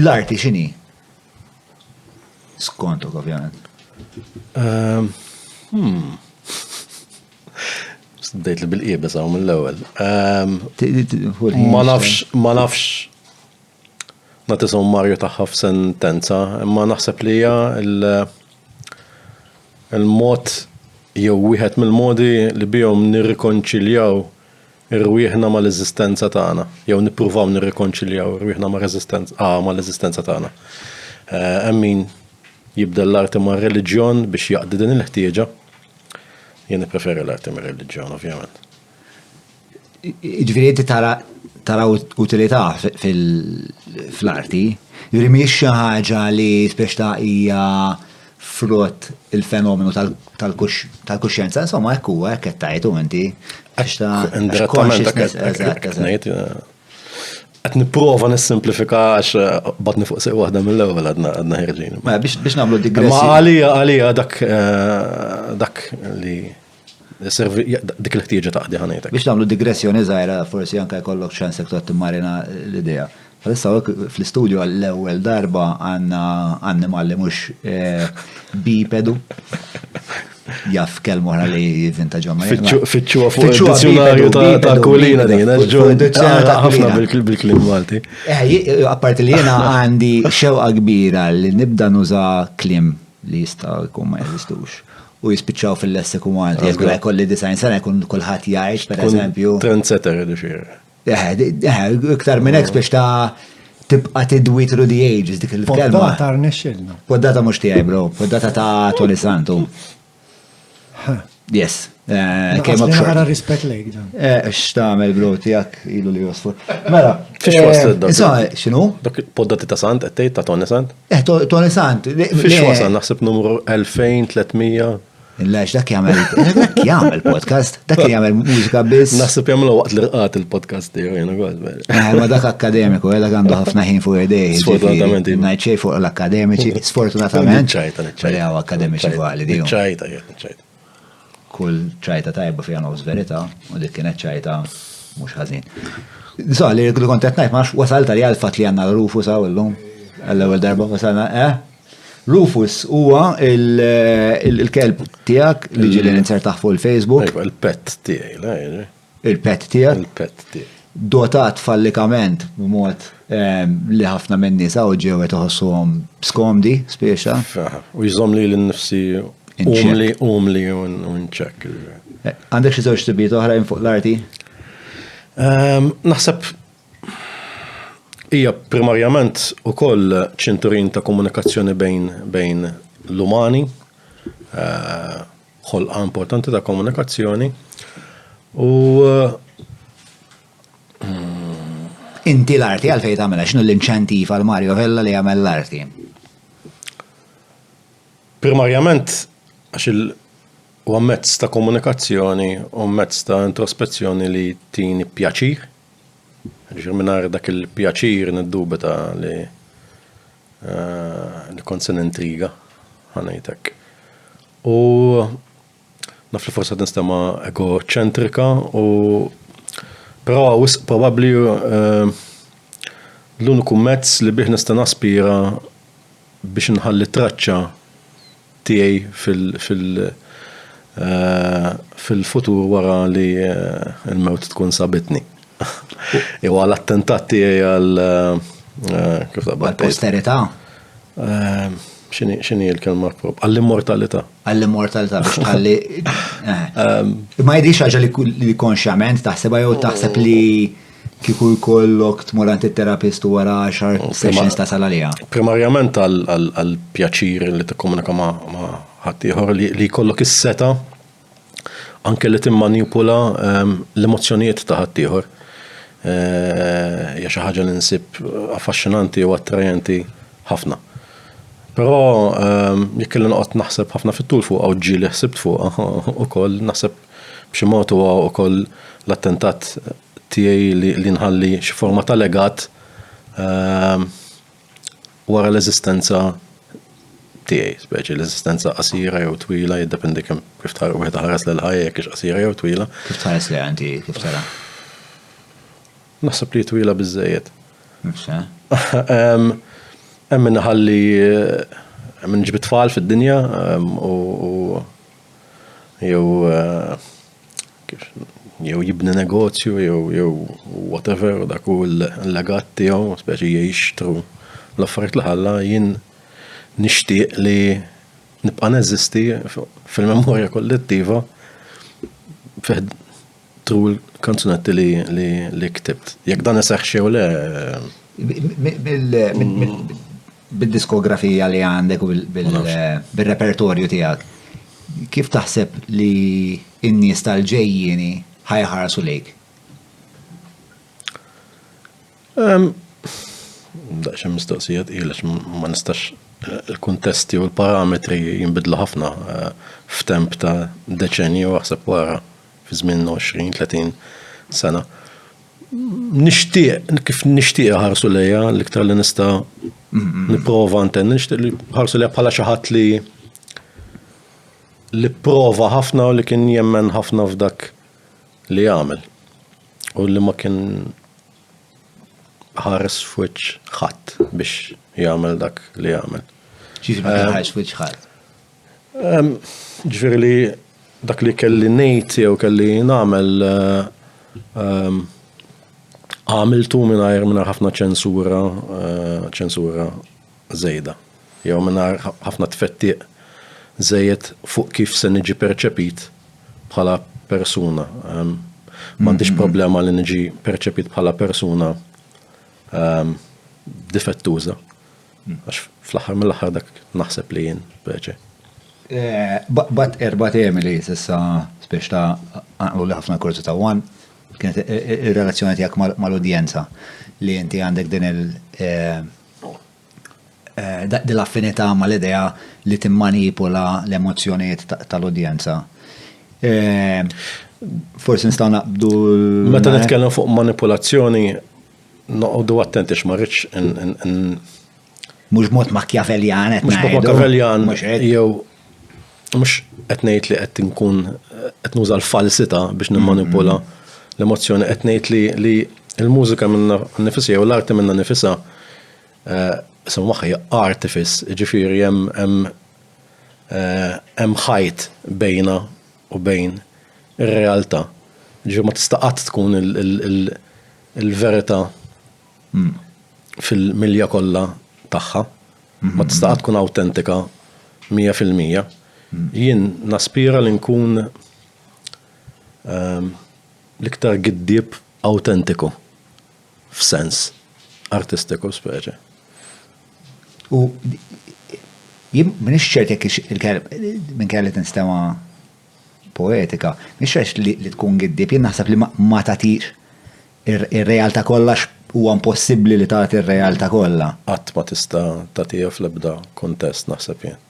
L-arti x'inhi? Skontok ovvjament. Ehm, hmm. Bdejt li bil-qiebes hawn mill-ewwel. Ehm, ma nafx, ma nafx nagħti sommarju tagħha f'sentenza, imma naħseb li hija il-mod jew wieħed mill-modi li bihom nirrikonċiljaw irwieħna mal-eżistenza tagħna, jew nippruvaw nirrikonċiljaw irwieħna ah, mal-eżistenza tagħna. Eh, hemm min jibda l-arti ma' reliġjon biex jaqdi din il-ħtieġa. Jien preferi l-arti ma' reliġjon, ovvjament. Ġviri, inti tara tara utilità fil-arti, ġviri miex xi ħaġa li speċta hija frott il-fenomenu tal-kuxjenza, insomma, hekk huwa, hekk qed tajtu inti. Għax ta' consciousness, eżatt, eżatt. Qed nipprova nissimplifika għax eh, batni fuq sew waħda mill-ewwel għadna għadna ħerġin. Mela, biex nagħmlu digressjoni. Ma għalija għalija dak eh, dak li Dik il-ħtieġa ta' qdi ħanejtek. Biex nagħmlu digressjoni żgħira, forsi anke jkollok ċans jekk tgħod timmarina l-idea. Bħalissa hawnhekk fl-istudju għall-ewwel darba għandna annimal li mhux bipedu. Jaf kelma oħra li jivvinta ġomma. Fittxuha fuq il-dizzjonarju ta' kulina din, ħafna bil-klim Malti. Eh, apparti li jiena għandi xewqa kbira li nibda nuża klim li jista' jkun ma jeżistux. u jispiċċaw fil-lessiku Malti. Jekk la jkolli design sena jkun kulħadd jgħix, per eżempju. Trendsetter li xejn. Eh, eh, iktar minn hekk biex ta' tibqa' tidwi through the ages dik il-kelma. Poddata rnexxilna. Poddata mhux tiegħi bro, poddata ta' Tony Santu. Yes. Eh, kemm up short. Għara rispet lejk dan. Eh, x'tagħmel bro tiegħek ilu li josfu. Mela, x'inhu? Dak poddati ta' Sant qed ta' Tony Sant? Eh, Tony Sant. Fix wasan naħseb numru 2300. Lex, dak jgħamil, dak jgħamil podcast, dak jgħamil mużika biss. Naħseb jgħamil waqt li rqat il-podcast tiegħu jena għad. Eh, ma dak akademiku, eh, dak għandu ħafna ħin fuq idej. Sfortunatament. Najċej fuq l-akademiċi, sfortunatament. Ċajta, ċajta. Għaw akademiċi għalli. Ċajta, ċajta. Kull ċajta tajba fiha nofs verità u dik kienet ċajta mhux ħażin. Sa li li kont qed ngħid ma wasal tal għal fatt li għandna Rufus hawn illum. Għall-ewwel darba wasalna, eh? Rufus huwa il-kelb tiegħek li ġieli ninsertaħ fuq il-Facebook. Il-pet tiegħi, il-pet tiegħek. Il-pet tiegħek. Dotat fallikament b'mod ehm, li ħafna minn nies hawn ġew qed iħossuhom skomdi spiexa. U jżomm li l-nifsi umli umli u nċek. Eh, għandek xi żewġ tibiet oħrajn fuq l-arti? Ehm, naħseb hija primarjament ukoll ċinturin ta' komunikazzjoni bejn bejn l-umani. Eh, ħolqa importanti ta' komunikazzjoni u Inti l-arti għalfejn tagħmilha x'inhu l-inċentiv għal Mario Vella li jagħmel l-arti? Primarjament għax il huwa mezz ta' komunikazzjoni u mezz ta' introspezzjoni li tini pjaċir. Ġifieri mingħajr dak il-pjaċir niddubita li Li kont se nintriga, ħa ngħid hekk. U naf li forsi qed nistema' egoċentrika u però wisq probabbli l-uniku mezz li bih nista' naspira biex inħalli traċċa tiegħi fil-futur wara li l-mewt tkun sabitni. Jew għal attentat tiegħi għal kif taqbad. Għal posterità. X'inhi l-kelma prop? Għall-immortalità. Għall-immortalità biex tħalli. Ma jidhirx ħaġa li konxjament taħsebha jew taħseb li Kieku jkollok tmur għand it-terapist u wara għaxar sessions tasal għaliha. Primarjament għall-pjaċir li tikkomunika ma' ħaddieħor li jkollok is-seta' anke li timmanipula ehm, l-emozzjonijiet ta' ħaddieħor. Eh, hija xi ħaġa li nsib affaxxinanti u attrajenti ħafna. Però ehm, jekk li noqgħod naħseb ħafna fit-tul fuq u ġieli ħsibt fuq ukoll naħseb B'xi mod huwa wkoll l-attentat tiegħi li nħalli xi forma ta' legat wara l-eżistenza tiegħi, speċi l-eżistenza qasira jew twila, jiddependi kemm kif tħares wieħed iħares lejn ħajja jekk hix qasira jew twila. Kif tħares lejha inti kif tara? Naħseb li twila biżejjed. Nifsa. Hemm min ħalli minn ġbit tfal fid-dinja u jew jew jibni negozju jew jew whatever u dak hu l-legat tiegħu, speċi jgħix thru l-affarijiet li ħalla, jien nixtieq li nibqa' neżisti fil-memorja kollettiva fi ħd-, thru l-kanzunetti li li li ktibt. Jekk dan iseħħx jew le. Bid-diskografija li għandek u bil-repertorju tiegħek, kif taħseb li n-nies tal-ġejjieni ħajħarsu lejk? Daqsxejn mistoqsija tqila ma nistax il-kuntesti u l-parametri jinbidlu ħafna eh, f'temp ta' deċenju aħseb wara fi żmien 20-30 sena. Nixtieq, kif nixtieq ħarsu lejha, l-iktar li nista' nipprova ntenni, nixtieq li ħarsu lejha bħala xi ħadd li li prova ħafna u li kien jemmen ħafna f'dak li għamel. U li ma kien ħares f'wiċ ħadd biex jagħmel dak li jagħmel. Ġifieri ma kien eh, ħares f'wiċ ħadd. Jiġifieri li dak li kelli ngħid jew kelli nagħmel għamiltu mingħajr ħafna ċensura, ċensura żejda, jew mingħajr ħafna tfettiq żejjed fuq kif se niġi perċepit bħala persuna. M'għandix problema li niġi perċepit bħala persuna difettuża. Għax fl-aħħar mill-aħħar dak naħseb li jien preċe. Eh, bat erba temi li sissa spiex ta' għanqlu li ħafna kurzu ta' wan, kienet eh, eh, il-relazzjoni tijak mal-udjenza li inti għandek din il- dil-affinità mal-idea li timmanipula l-emozjoniet tal-udjenza. Forsi nistaw naqbdu. Meta nitkellem fuq manipulazzjoni, Noqogħdu attenti x'ma rridx Mhux mod Machiavellian qed Mhux mod Machiavellian jew mhux qed ngħid li qed inkun qed nuża l-falsità biex nimmanipula mm-hmm. l-emozzjoni qed ngħid li li l-mużika minna nifisha jew l-arti minna nifisha eh, isem magħha hija artifis, ġifieri hemm hemm eh, hemm ħajt bejna u bejn ir-realtà. Ġifieri ma tista' qatt tkun il- Il-verità fil-milja kollha tagħha ma tista' qatt tkun awtentika mija fil-mija. Jien naspira li nkun l-iktar giddieb awtentiku f'sens artistiku speċi. U jien m'iniex ċert jekk hix il-kelma, minkejja li tinstema' poetika, mhix għax li li tkun giddieb, jien naħseb li ma tagħtix ir-realtà kollha huwa impossibbli li tagħti r-realtà kollha. Qatt ma tista' tagħtiha fl-ebda kuntest naħseb jien.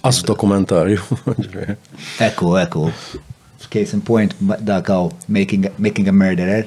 Qas dokumentarju. Ekku, ekku. Case in point dak hawn making, making a murderer.